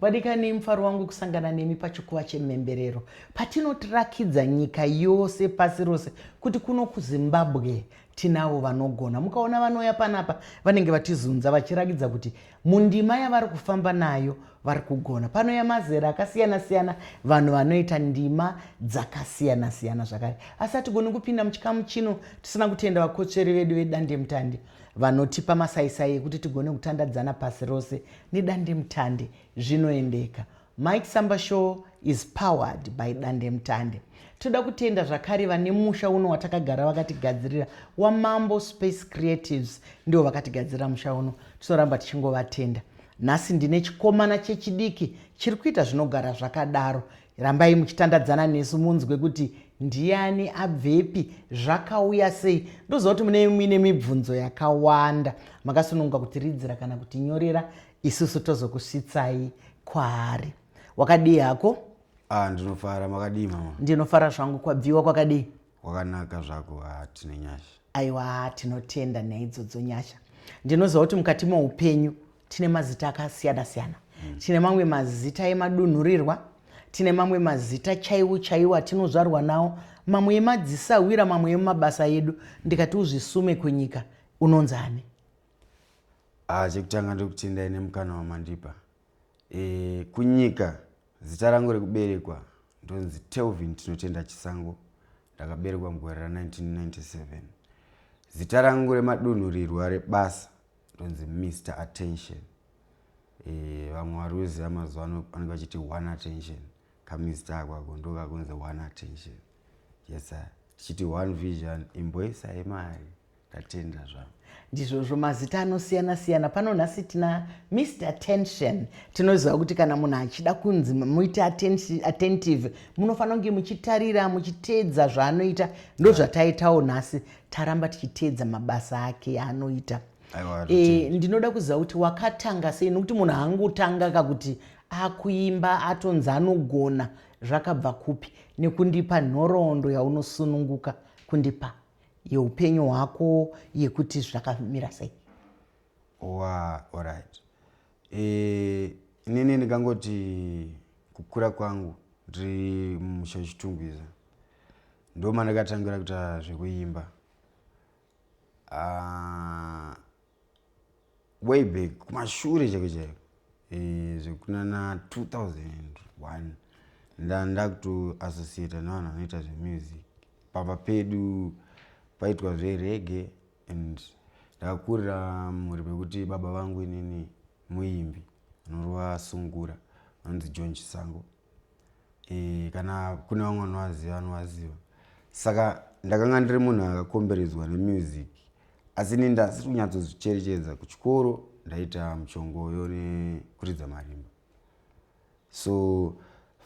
Vadikani, mufaro wangu kusangana nemi pachikuva chemhemberero patinotirakidza nyika yose pasi rose kuti kuno kuzimbabwe tinavo vanogona. Mukaona vanouya panapa vanenge vatizunza vachirakidza kuti mundima yavari kufamba nayo vari kugona. Panouya mazera akasiyana siyana, vanhu vanoita ndima dzakasiyana siyana zvakare. Asi hatigoni kupinda muchikamu chino tisina kutenda vakotsveri vedu vedandemutande. Vanotipa masaisai ekuti tigone kutandadzana pasi rose nedandemutande zvinoendeka. Mike Samba Show is powered by Dandemutande. Toda kutenda zvakare vane musha uno watakagara vakatigadzirira waMambo Space Creatives ndivo vakatigadzirira musha uno. Tinoramba tichingovatenda. Nhasi ndine chikomana chechidiki chiri kuita zvinogara zvakadaro Rambai muchitandadzana nesu munzwe kuti ndiani abvepi zvakauya sei ndoziva kuti mune muine mibvunzo yakawanda makasununguka kutiridzira kana kutinyorera isusu tozokusvitsai kwaari wakadii hako ah, ndinofara makadii mama ndinofara zvangu kwabviwa kwakadii kwakanaka zvako ah, tine nyasha aiwa tinotenda nyaya idzodzo nyasha ndinoziva kuti mukati moupenyu tine mazita akasiyana siyana mm. tine mamwe mazita emadunhurirwa tine mamwe mazita chaiwo chaiwo atinozvarwa nawo mamwe emadzisahwira mamwe emumabasa edu ndikati uzvisume kunyika unonzi ani ah, chekutanga ndekuti ndaine mukana wamandipa e, kunyika zita rangu rekuberekwa ndonzi telvin tinotenda chisango ndakaberekwa mugore ra 1997 zita rangu remadunhurirwa rebasa tonzi Mr Attention eh, vamwe vari kuziva mazuva ano vanenge vachiti one attention kamista ako ako ndokakunzi one attention yes tichiti one vision imboisa yemari tatenda zvavo ndizvozvo mazita anosiyana siyana pano nhasi tina mr attention tinoziva kuti kana munhu achida kunzi muite attentive munofanira kunge muchitarira muchiteedza zvaanoita ndozvataitawo nhasi taramba tichiteedza mabasa ake yaanoita e, ndinoda kuziva kuti wakatanga sei nokuti munhu haangotanga ka kuti akuimba atonzi anogona zvakabva kupi nekundipa nhoroondo yaunosununguka kundipa yeupenyu hwako yekuti zvakamira sei wa orit e, eh, inini ndikangoti kukura kwangu ndiri mumusha chitungwiza ndomandakatangira kuita zvekuimba uh, way back kumashure chake chaiko eh, zvekunana 2001 ndandakutoassociata nevanhu vanoita zvemusic pamba pedu paitwa zverege and ndakakurira mhuri pekuti baba vangu inini muimbi anorova sungura anonzi john chisango e, kana kune vamwe vanovaziva vanovaziva saka ndakanga ndiri munhu akakomberedzwa nemusic asi ini ndasiri kunyatsozvicherechedza kuchikoro ndaita muchongoyo nekuridza marimba so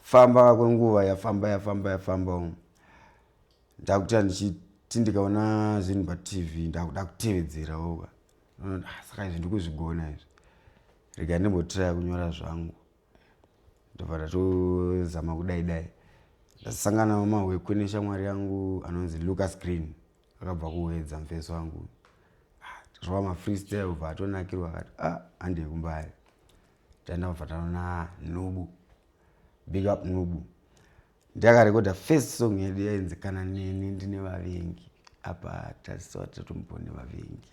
famba kwenguva yafamba yafamba yafamba umu ndakuta ndichiti ndikaona zvinhu patv ndakuda kutevedzerawoka ah, saka izvi ndikuzvigona izvi rega ndimbotiraya kunyora zvangu ndobva ndatozama kudai dai ndasangana wamahwekwe neshamwari yangu anonzi lucas green akabva kuwedza mufesi wangu ah, tazvava mafreestyle ubva atonakirwa akati a ah, handei kumbari taenda kubva tanona nubu big up nubu Ndakarekodha first song yedu yainzi kana neni ndine vavengi apa taziva tatomupo nevavengi.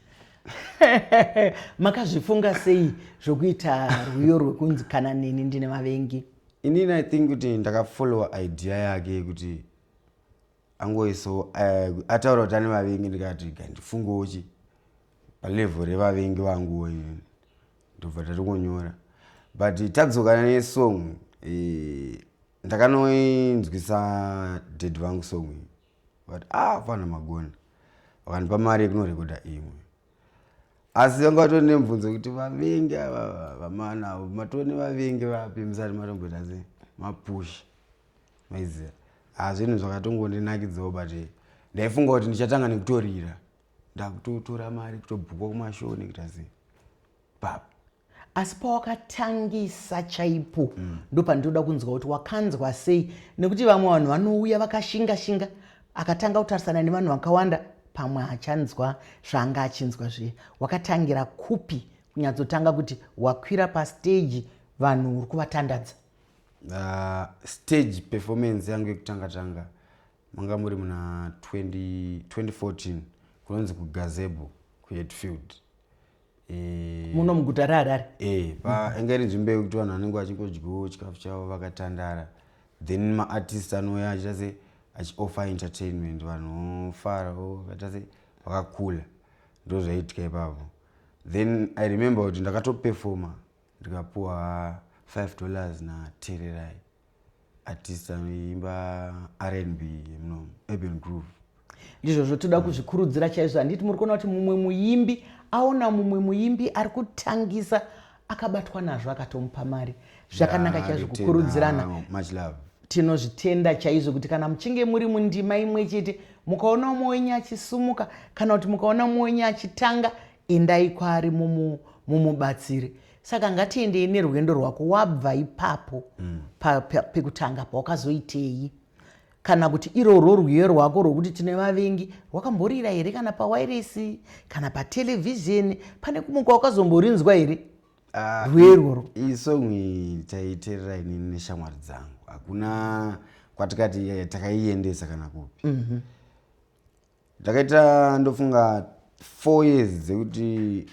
Makazvifunga sei zvokuita rwiyo rwekunzi kana neni ndine vavengi? Inini I think kuti ndakafollowa idea yake yekuti angoisawo uh, ataura kuti ane vavengi ndikati gandifungewo chi palevel revavengi vanguwo inini ndobva tati kunyora but tadzokana nesong eh, ndakanoinzwisa dad vangu song iyi vati ah fana magona vakandipa mari yekunorekoda imwe asi vanga vatoo nemubvunzo kuti vavengi ava vamana avo matoo nevavengi vapi musati matomboita se mapusha maiziva hazvinhu ah, zvakatongondinakidzawo but eh, ndaifunga kuti ndichatanga nekutorira ndakutotora mari kutobhukwa kumashoo nekuita sei papa asi pawakatangisa chaipo mm. ndopandinoda kunzwa kuti wakanzwa sei nekuti vamwe vanhu vanouya vakashinga shinga akatanga kutarisana nevanhu vakawanda pamwe achanzwa zvaanga achinzwa zviye wakatangira kupi kunyatsotanga kuti wakwira pasteji vanhu uri kuvatandadza uh, stage performance yangu yekutanga tanga manga muri muna 2014 kunonzi kugazebo kuhetfield Eh, muno muguta reharare eh, painge iri nzvimbo yekuti vanhu vanenge vachingodyiwo chikafu chavo vakatandara then maartist anouya achiita se achioffer entertainment vanhu vofara vakaita se vakakula ndo zvaiitika ipapo then i remember kuti ndakatoperfoma ndikapuwa 5 dollars natererai artist anoimba rnb muno urban groove ndizvozvo toda mm. kuzvikurudzira chaizvo handiti muri kuona kuti mumwe muimbi aona mumwe muimbi ari kutangisa akabatwa nazvo akatomupa mari zvakanaka chaizvo kukurudzirana tinozvitenda chaizvo kuti kana muchinge muri mundima imwe chete mukaona umwe wenyu achisumuka kana kuti mukaona umwe wenyu achitanga endai kwaari mumubatsire saka ngatiendei nerwendo rwako wabva ipapo mm. pekutanga pa, pa, pawakazoitei kana kuti irorwo rwiyo rwako rwokuti tine vavengi rwakamborira here kana pawairesi kana patelevhizheni pane kumwe kwawakazomborinzwa here ah, rwiyo irworwo iyi song taiterera inini neshamwari dzangu hakuna kwatikati eh, takaiendesa kana kupi mhm. ndakaita mm -hmm. ndofunga four years dzekuti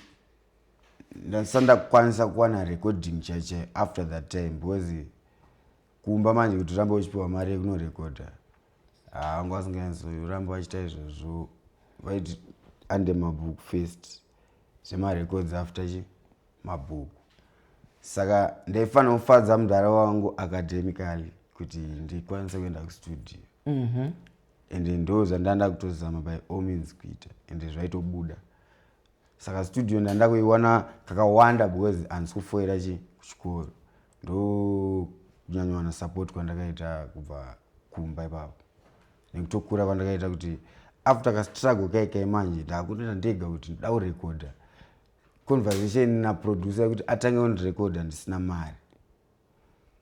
ndasati ndakukwanisa kuwana recording chaichai after that time because kumba manje kuti urambe uchipiwa mari yekunorekodha haangu ah, asingaenzorambe vachita izvozvo vaiti ande mabhuku first zvemarecords after chi mabhuku saka ndaifanira kufadza mudhara wangu academically kuti ndikwanise kuenda kustudio mhm. and ndo zvandanda kutozama by all means kuita and zvaitobuda saka studio ndanda kuiwana kakawanda because handisi kufoira chi kuchikoro ndonyanyowana support kwandakaita kubva kumba ipapo nekutokura kwandakaita kuti after kastruggle kaikai manje ndakutoita ndega kuti ndoda kurekodha conversation naproducer yekuti atange ondirekodha ndisina mari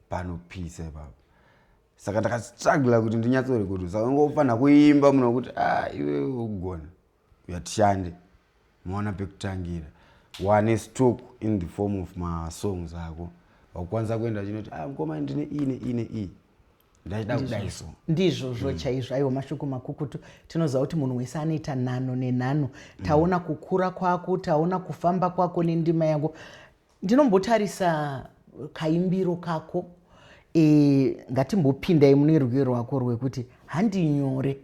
panopisa ipapo saka ndakastrugla kuti ndinyatsorekodha saka ungofanira kuimba munokuti a ah, iwe ugona yatishande maona pekutangira wane stock in the form of masongs ako wakwanisa kuenda chinoti ah, mkoma ndine ii neii neii ndaida kudai so ndizvozvo mm. chaizvo aiwa mashoko makukutu tinoziva kuti munhu wese anoita nhano nenhano mm. taona kukura kwako taona kufamba kwako nendima yako Ndinombotarisa kaimbiro kako e, ngatimbopindai mune rwiyo rwako rwekuti handi nyore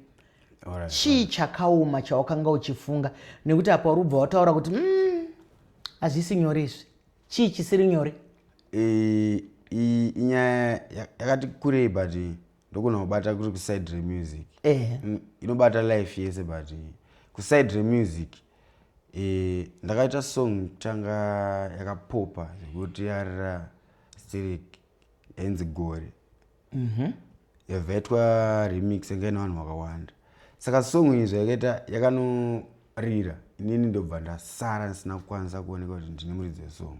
right, chii right. chakaoma chawakanga uchifunga nekuti apa uri ubva wataura kuti mm, hazvisi mm, nyore izvi chii chisiri nyore e, inyaya yakati kurei but ndogona kubata kuri kuside remusic eh. Mm, inobata life yese but eh, kuside remusic eh, ndakaita song tanga yakapopa zvekuti yarira stirik enzi gore mm -hmm. yavhetwa remix yanga ine vanhu vakawanda saka song izvo yakaita yakanorira inini ndobva ndasara ndisina kukwanisa kuoneka kuti ndine muridzi wesong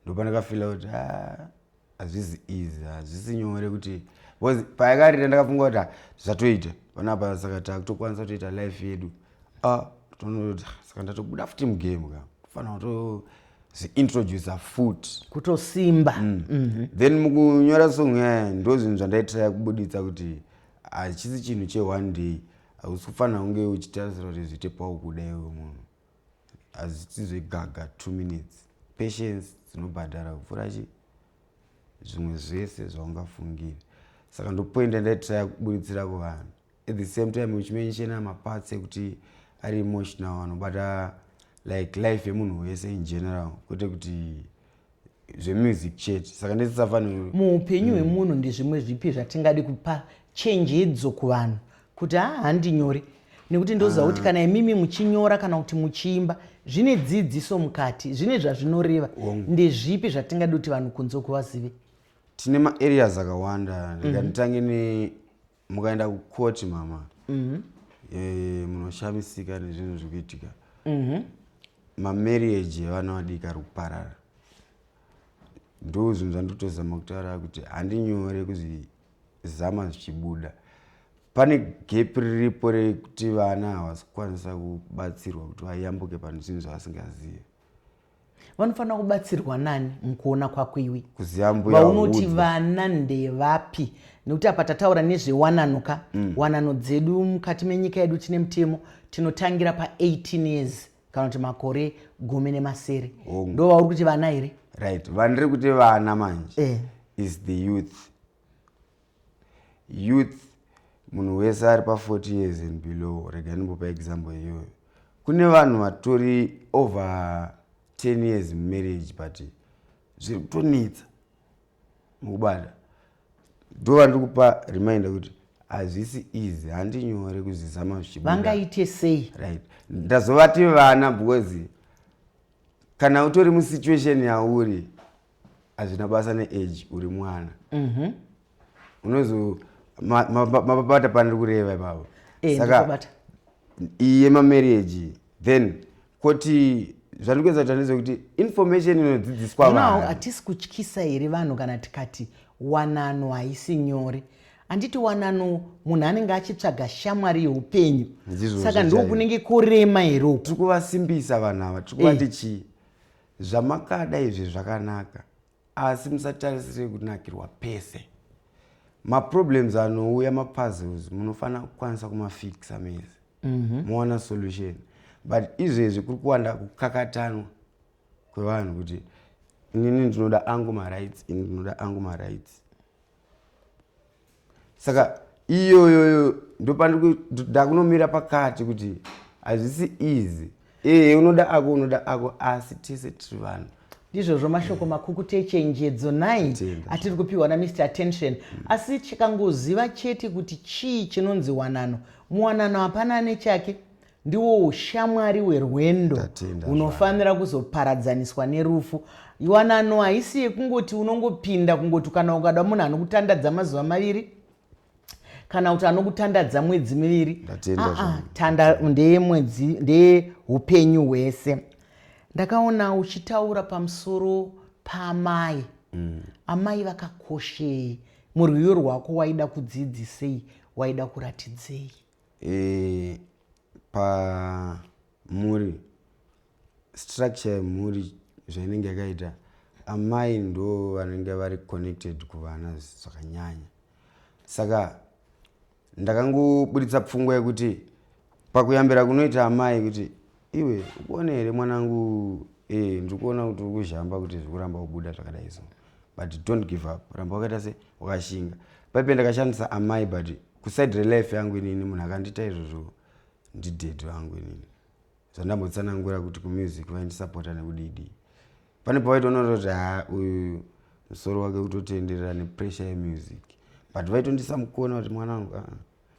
ndopandakafila kuti ah, hazvisi easy hazvisi nyore kuti bcause payakarita ndakafunga kuti ah, zvatoita panapa saka takutokwanisa kutoita life yedu ah, tonoda saka ndatobuda futi mugame ka kufanira kuto zviintroducer foot kutosimba mm. mm -hmm. then mukunyora song yaya eh, ndo zvinhu zvandaitiraya kubuditsa kuti hachisi chinhu cheone day hausi kufanira kunge uchitarisira kuti zviite paukuda iwe munhu hazviti zvegaga two minutes patience dzinobhadhara kupfuura chi zvimwe zvese zvaungafungire saka ndopoinda ndaitira kuburitsira kuvanhu at the same time uchimenshena maparts ekuti ari emotional anobata like life yemunhu wese in general kwete kuti zvemusic chete saka ndisisafanirwe muupenyu mm. hwemunhu ndezvimwe zvipi zvatingadi kupa chenjedzo kuvanhu kuti haa handinyore nekuti ndoziva kuti ah. kana imimi muchinyora kana kuti muchiimba zvine dzidziso mukati zvine zvazvinoreva ndezvipi zvatingadi kuti vanhu kunze kuvazive tine maareas akawanda mm. ndikatitange ne mukaenda kukoti mama mm-hmm. eh, munoshamisika nezvinhu zviri kuitika mm-hmm. mamarriage evana vadiki ari kuparara ndo zvinhu zvandotozama kutaura kuti handinyore kuzvizama zvichibuda pane gap riripo rekuti vana havasi kukwanisa kubatsirwa kuti vayambuke pane zvinhu zvavasingazive vanofanira kubatsirwa nani mukuona kwako iwe vaunoti vana ndevapi nekuti apa tataura nezvewanano ka mm. wanano dzedu mukati menyika yedu tine mutemo tinotangira pa18 years kana kuti makore gumi nemasere ndo vauri kuti vana here right vandiri kuti vana manje eh. is the youth youth munhu wese ari pa 40 years and below rega ndimbopa example iyoyo kune vanhu vatori over 10 years mumarriage but zviri kutonetsa mukubata ndo vandiri kupa reminder kuti hazvisi easy handi nyore kuzvisa mazvivangaite sei right ndazovati vana because kana utori musituation yauri hazvina basa neage uri mwana mhm. unozo mapabata paniri kureva ipavo eh, saka iye mamarriage then koti zvandiri kuedza kuti andizive kuti information inodzidziswa vanhu hatisi kutyisa here vanhu kana tikati wanano haisi nyore handiti wanano munhu anenge achitsvaga shamwari yeupenyu saka ndiko kunenge kurema here uku tiri kuvasimbisa vanhu ava tiri kuvati eh. chii Zvamakada izvi zvakanaka asi musatarisire kunakirwa pese. Maproblems anouya mapuzzles munofanira kukwanisa kumafixa mese mhm. mowana mm -hmm. solution but izvezvi kuri kuwanda kukakatanwa kwevanhu kuti inini ndinoda angu marights ini ndinoda angu marights saka iyoyoyo ndopandakunomira pakati kuti hazvisi easy ee unoda ako unoda ako asi tese tiri vanhu ndizvozvo mashoko makukuti echenjedzo nai atiri kupiwa namr attention mm. asi chikangoziva chete kuti chii chinonzi wanano muwanano hapana ane chake ndiwo ushamwari hwerwendo hunofanira kuzoparadzaniswa nerufu iwanano haisi yekungoti unongopinda kungoti kana ukada munhu anokutandadza mazuva maviri kana kuti anokutandadza mwedzi miviri ah, ah, tanda ndeye mwedzi ndeye upenyu hwese ndakaona uchitaura pamusoro paamai mm. amai vakakoshei murwiyo rwako waida kudzidzisei waida kuratidzei E, pamhuri structure yemhuri zvainenge yakaita amai ndo vanenge vari connected kuvana zvakanyanya saka ndakangoburitsa pfungwa yekuti pakuyambira kunoita amai kuti iwe ukuone here mwanangu e, eh, ndiri kuona kuti uri kuzhamba kuti zviri kuramba kubuda zvakadai so but don't give up ramba wakaita se wakashinga paipe ndakashandisa amai but kuside relife yangu inini munhu akandiita izvozvo ndided vangu inini zvandambotsanangura kuti kumusic vaindisapota nekudidi pane pavaitoonora kuti ha uyu musoro wake kutotenderera nepressure yemusic but vaitondisa mukona kuti mwana wangu ah,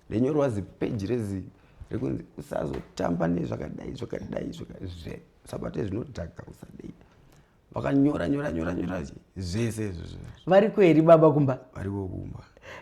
ndenyorwa zipeji rezi rekunzi usazotamba nezvakadai zvakadai zvakazve sabate zvinodhaka usadei vakanyora nyora nyora nyora zvese izvozvo variko here baba kumba variko kumba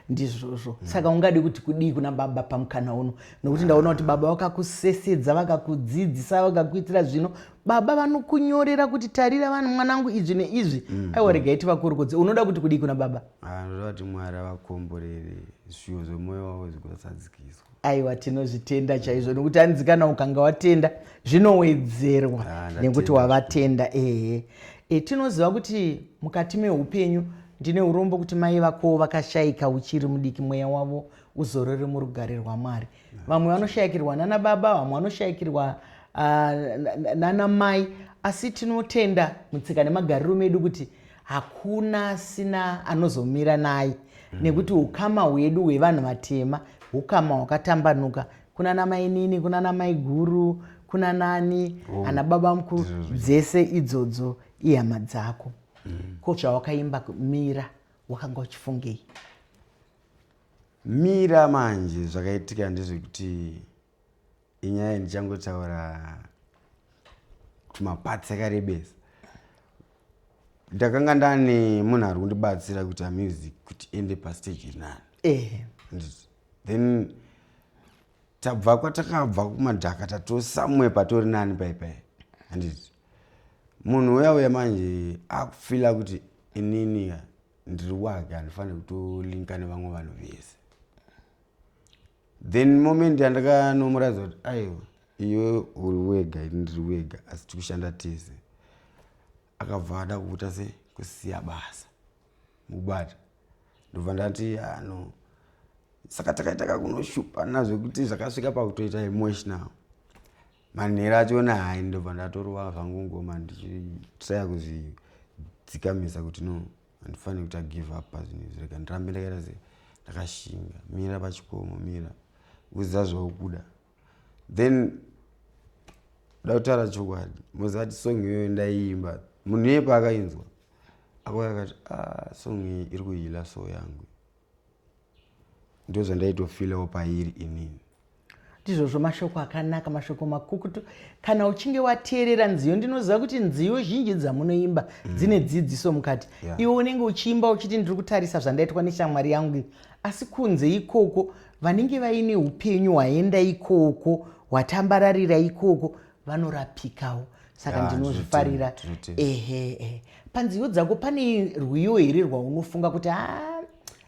ndizvozvo mm. saka ungadi kuti kudii kuna baba pamukana uno nokuti ndaona kuti baba vakakusesedza vakakudzidzisa vakakuitira zvino baba vanokunyorera kuti tarira vanhu mwanangu izvi neizvi mm. aiwa rega iti vakurukodze unoda kuti kudii kuna baba anoda ah, kuti mwari avakomborere zviyo zvemoyo wavo zvikuasadzikiswa aiwa tinozvitenda chaizvo nekuti anzi kana ukanga watenda zvinowedzerwa ah, nekuti wavatenda ehe e, tinoziva kuti mukati meupenyu ndine urombo kuti mai vako vakashaika uchiri mudiki mweya wavo uzorore murugare rwamwari vamwe vanoshayikirwa nana baba vamwe vanoshayikirwa ah, nana mai asi tinotenda mutsika nemagariro medu kuti hakuna asina anozomira naye mm. nekuti ukama hwedu hwevanhu vatema ukama hwakatambanuka kuna namainini kuna namaiguru kuna nani oh. ana baba mukuru dzese idzodzo ihama dzako mm. ko zvawakaimba mira wakanga uchifungei mira manje zvakaitika ndezvekuti inyaya ndichangotaura tumaparts akarebesa ndakanga ndane munhu ari kundibatsira kuti amusic kuti ende pastage inani eh. then tabva kwatakabva kumadhaka tatosamwe patori nani paipai handiti munhu uya uya manje akufila kuti inini ndiri wake handifanire kutolinka nevamwe vanhu vese then moment yandakanomuratidza kuti aiwa iwe uri wega ini ndiri wega asi tikushanda tese akabva ada kuita se kusiya basa mukubata ndobva ndati ano ah, saka takaita kakunoshupana zvekuti zvakasvika pakutoita emotional manhero acho ona hai ndobva ndatorova zvangu ngoma ndichitraya kuzvidzikamisa kuti no handifaniri kuita give up pazvinhu izvi rega ndirambe ndakaita se ndakashinga mira pachikomo mira uziva zvaukuda then da kutaura chokwadi mozati song iyoyo ndaiimba munhu iye paakainzwa akauya akati ah, song iyi iri kuhila so yangu ndozvandaitofilawo pairi inini ndizvozvo mashoko akanaka mashoko makukutu kana uchinge wateerera nziyo ndinoziva kuti nziyo zhinji dzamunoimba mm. dzine dzidziso mukati yeah. iwe unenge uchiimba uchiti ndiri kutarisa zvandaitwa neshamwari yangu asi kunze ikoko vanenge vaine upenyu hwaenda ikoko hwatambararira ikoko vanorapikawo saka ndinozvifarira ehe ehe panziyo dzako pane rwiyo here rwaunofunga kuti a ah,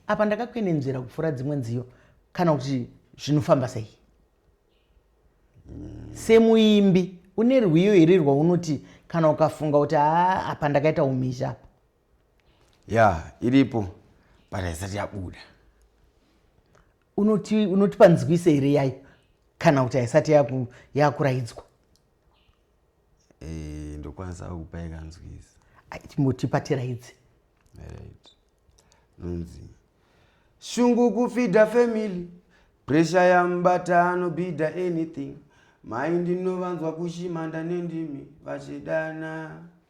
apa ndakakwenenzvera kupfuura dzimwe nziyo kana kuti zvinofamba sei mm. semuimbi une rwiyo here rwaunoti kana ukafunga kuti a ah, apa ndakaita umizha apa ya iripo but haisati yabuda unoti unoti panzwise here yayo kana kuti haisati yaku- yakuraidzwa Eh, ndokwanisa kukupai kanzwisa Ai, chimbotipa tiraidze right nonzi shungu kufidha family presha yamubata anobhidha anything mai ndinovanzwa kushimanda nendimi vachidana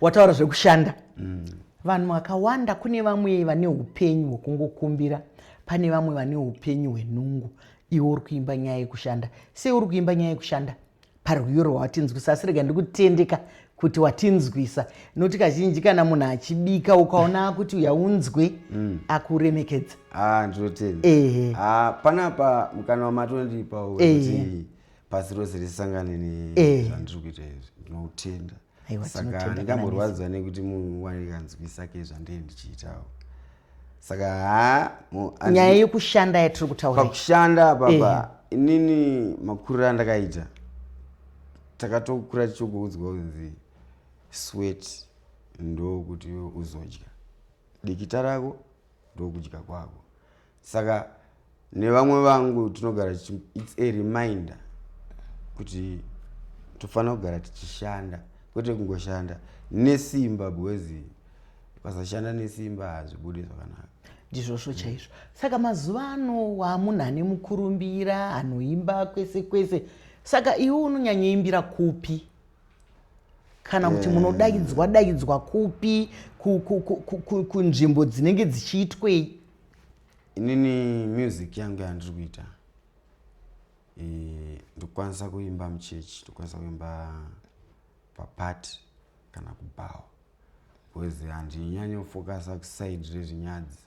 wataura zvekushanda mm. vanhu vakawanda kune vamwe vane upenyu hwekungokumbira pane vamwe vane upenyu hwenungu iwe uri kuimba nyaya yekushanda sei uri kuimba nyaya yekushanda parwiyo rwawatinzwisa asi rega ndikutendeka kuti watinzwisa noti kazhinji kana munhu achibika ukaona kuti uyaunzwe mm. akuremekedza ah, ndinotenda ehe ah, panapa mukana wamatondipa wekuti pasi rose risangane nezvandiri eh. kuita izvi ndinotenda saka ndingamborwadziwa nekuti munhu waikanzwisa ke zvandee ndichiitawo saka ha nyaya yekushanda yatiri kutaura pakushanda papa eh. inini makuriro andakaita takatokura tichikuudzwa kunzi swet ndokuti uzodya dikita rako ndokudya kwako saka nevamwe vangu tinogara its a reminder kuti tofanira kugara tichishanda kwete kungoshanda nesimba because pasashanda nesimba hazvibude zvakanaka ndizvozvo chaizvo saka mazuva ano wamunhu ane mukurumbira anoimba kwese kwese saka iwe unonyanyoimbira kupi kana kuti eh. munodaidzwa daidzwa kupi kunzvimbo dzinenge dzichiitwei inini music yangu yandiri kuita eh, ndikukwanisa kuimba muchechi ndikukwanisa kuimba papati kana kubhawa bcause handinyanyofokasa kusaidi rezvinyadzi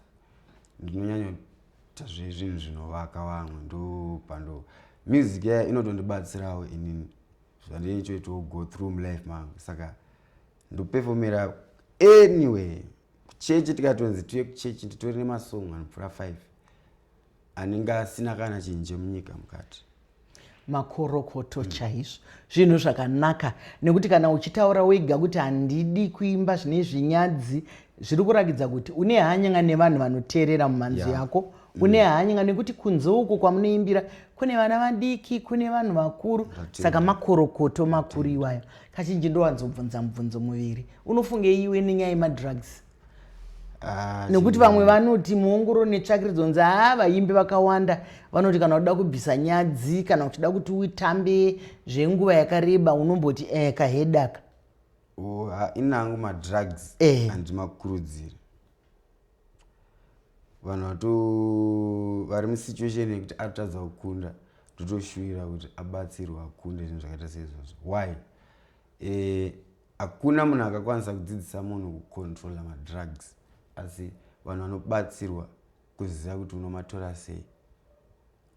ndinonyanyoita zvezvinhu zvinovaka vamwe ndopando music yaya inotondibatsirawo inini zvandinitoitawo go through mlife mangu saka ndopefomera anyway kuchechi tikatonzi tiuye kuchechi nditori nemasong anopfuura 5 anenge asina kana chinhu chemunyika mukati makorokoto mm. chaizvo zvinhu zvakanaka nekuti kana uchitaura wega kuti handidi kuimba zvine zvinyadzi zviri kurakidza kuti une hanyanga nevanhu vanoteerera mumanzi yeah. yako mm. une hanyanga nekuti kunze uku kwamunoimbira kune vana vadiki kune vanhu vakuru saka makorokoto makuru iwayo kazhinji ndowanzobvunza mubvunzo muviri unofunge iwe nenyaya yemadrugs ah, nekuti vamwe vanoti muongoro netsvakiridzo nzi haa vaimbi vakawanda vanoti kana uda kubvisa nyadzi kana uchida kuti uitambe zvenguva yakareba unomboti e eh, kahedaka oh, inangu madrugs eh. andimakurudziri vanhu vato vari musituation yekuti atotadza kukunda totoshuvira kuti abatsirwe akunde zvinhu zvakaita seizvozvo why eh, hakuna e, munhu akakwanisa kudzidzisa munhu kucontrola madrugs asi vanhu vanobatsirwa kuziva kuti unomatora sei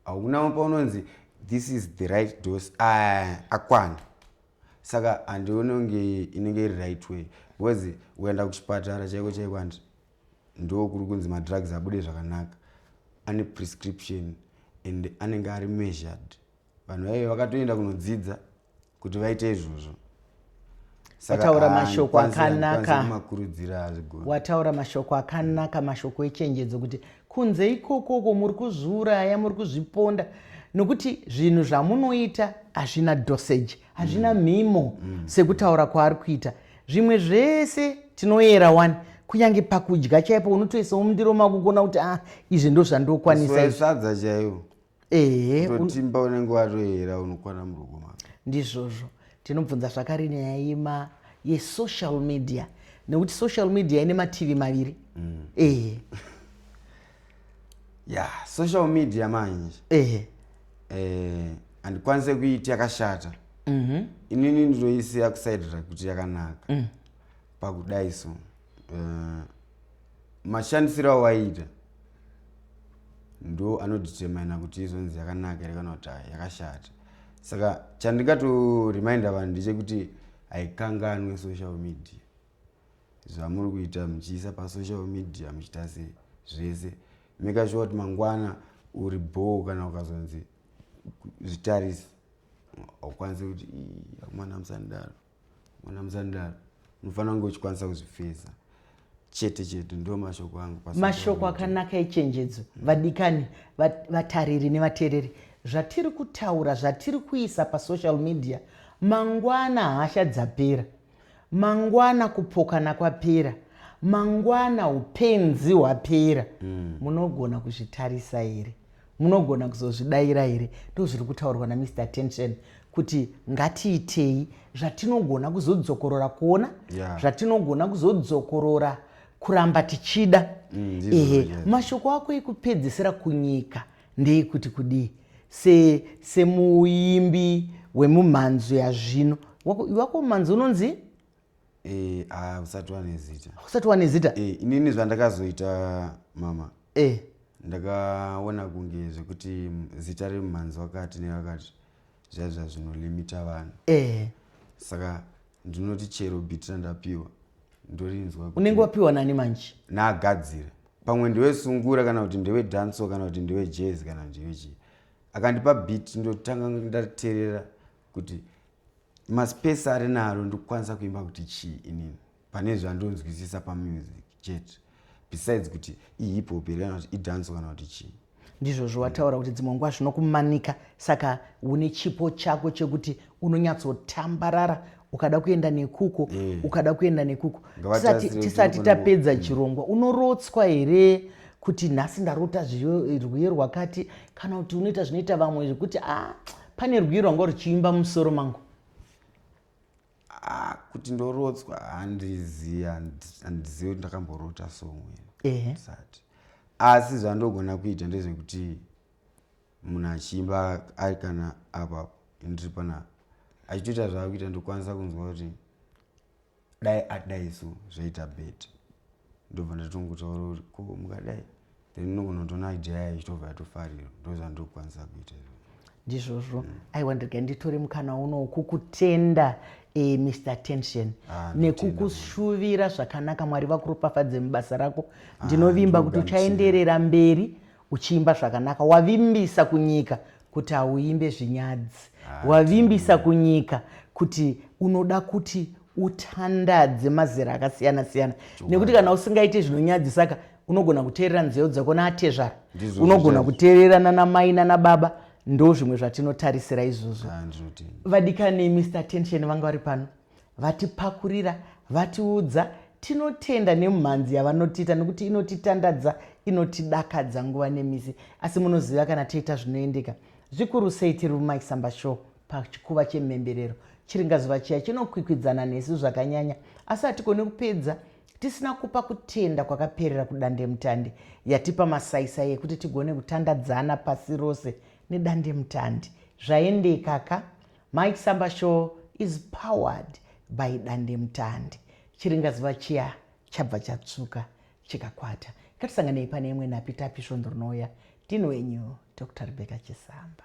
haunawo paunonzi this is the right dose ah, akwana saka handione kunge inenge iri right way because uenda kuchipatara chaiko chaiko andi ndo kuri kunzi madrugs abude zvakanaka ane prescription and anenge ari measured vanhu vaive vakatoenda kunodzidza kuti vaite izvozvo wataura mashoko akanaka wataura mashoko akanaka mashoko echenjedzo kuti kunze ikokoko muri kuzviuraya muri kuzviponda nokuti zvinhu zvamunoita hazvina dosage hazvina mm. mhimo mm. sekutaura kwaari kuita zvimwe zvese tinoyera wani kunyange pakudya chaipo unotoisa mundiro makugona kuti a ah, izvi ndo zvandokwanisa sadza chaivo eheotimba unenge watoyera unokwana murugo mako ndizvozvo tinobvunza zvakare nyaya yema yesocial media nekuti social media ine mativi maviri mm. ehe ya social media manje ehe eh, handikwanise kuiti yakashata mhm. inini ndinoisiya kusaidira kuti yakanaka mm. pakudai so eh, mashandisiro awaita ndo anoditermina kuti izonzi yakanaka here kana kuti yakashata saka chandingatoriminda vanhu ndechekuti haikanganwe social media zvamuri kuita muchiisa pasocial media muchiita se zvese make sure kuti mangwana uri bhoo kana ukazonzi zvitarisi haukwanisi kuti amwana musanidaro mwana muzandaro unofanira kunge uchikwanisa kuzvifeza chete chete ndo mashoko angu mashoko akanaka echenjedzo mm. vadikani vatariri nevateereri zvatiri kutaura zvatiri kuisa pasocial media mangwana hasha dzapera mangwana kupokana kwapera mangwana upenzi hwapera mm. munogona kuzvitarisa here Munogona kuzozvidaira here? Ndozviri kutaurwa naMr Tension kuti ngatiitei zvatinogona kuzodzokorora kuona yeah. zvatinogona kuzodzokorora kuramba tichida mm, ehe yeah. mashoko ako ekupedzisira kunyika ndeekuti kudii semuimbi se wemumhanzo yazvino wako mumhanzo unonzi Eh, ah, usati wane zita. Usati wane zita? Eh, inini zvandakazoita mama. Eh. Ndakaona kunge zvekuti zita riri mumhanzi wakati newakati zvaiva zvinolimita vanhu. Eh. Saka ndinoti chero biti randapiwa ndorinzwa. Unenge wapiwa nani manje? Naagadzire. Pamwe ndewe sungura kana kuti ndewe danso kana kuti ndewe jazz kana kuti ndewe chii. Akandipa biti ndotanga ndaterera kuti maspace ari naro ndikukwanisa kuimba kuti chii inini pane zvandonzwisisa pamusic chete besides kuti ihip hop here kana kuti idance kana kuti chii ndizvozvo wataura kuti dzimwe nguva zvinokumanika saka une chipo chako chekuti unonyatsotambarara ukada kuenda nekuko eh. ukada kuenda nekuko tisati tapedza mm. chirongwa unorotswa here kuti nhasi ndarota zvirwere rwakati kana kuti unoita zvinoita vamwe zvekuti a ah, Pane rwiyo rwanga ruchiimba mumusoro mangu. Ah, kuti ndorotswa handizivi handizivi kuti ndakamborota so mwene sati asi zvandogona kuita ndezvekuti munhu achiimba ari kana apapo ndiri panapa achitoita zvaakuita ndokwanisa kunzwa kuti dai adai so zvaita bet ndobva ndatongotaura kuti ko mukadai then unogona kutoona idea yayo ichitobva yatofarira ndozvandokwanisa kuita izvo ndizvozvo mm. aiwa ndirega nditore mukana unowu kukutenda e, mr tension ah, nekukushuvira zvakanaka mwari vakuropafadze mubasa rako ah, ndinovimba ah, kuti uchaenderera mberi uchiimba zvakanaka wavimbisa kunyika kuti hauimbe zvinyadzi ah, wavimbisa kunyika kuti unoda kuti utandadze mazera akasiyana siyana nekuti kana usingaite zvinonyadzisa ka unogona kuteerera nzeyo dzako naatezvara unogona kuteerera nanamai nanababa ndo zvimwe zvatinotarisira izvozvo ah, vadikani mr tension vanga vari pano Vatipakurira, vatiudza, tinotenda nemumhanzi yavanotiita nekuti inotitandadza, inotidakadza nguva nemisi. Asi munoziva kana taita zvinoendeka, zvikuru sei tiri muMaisamba Show pachikuva chemhemberero, chiringazuva chiya chinokwikwidzana nesu zvakanyanya, asi hatigone kupedza tisina kupa kutenda kwakaperera kudandemutande yatipa masaisai ekuti tigone kutandadzana pasi rose nedandemutande. Zvaendeka ka? Mai Samba show is powered by dandemutande. Chiringazuva chiya chabva chatsvuka chikakwata. Ngatisanganei pane imwe napi tapi svondo rinouya. Ndini wenyu Dr Rebecca Chisamba.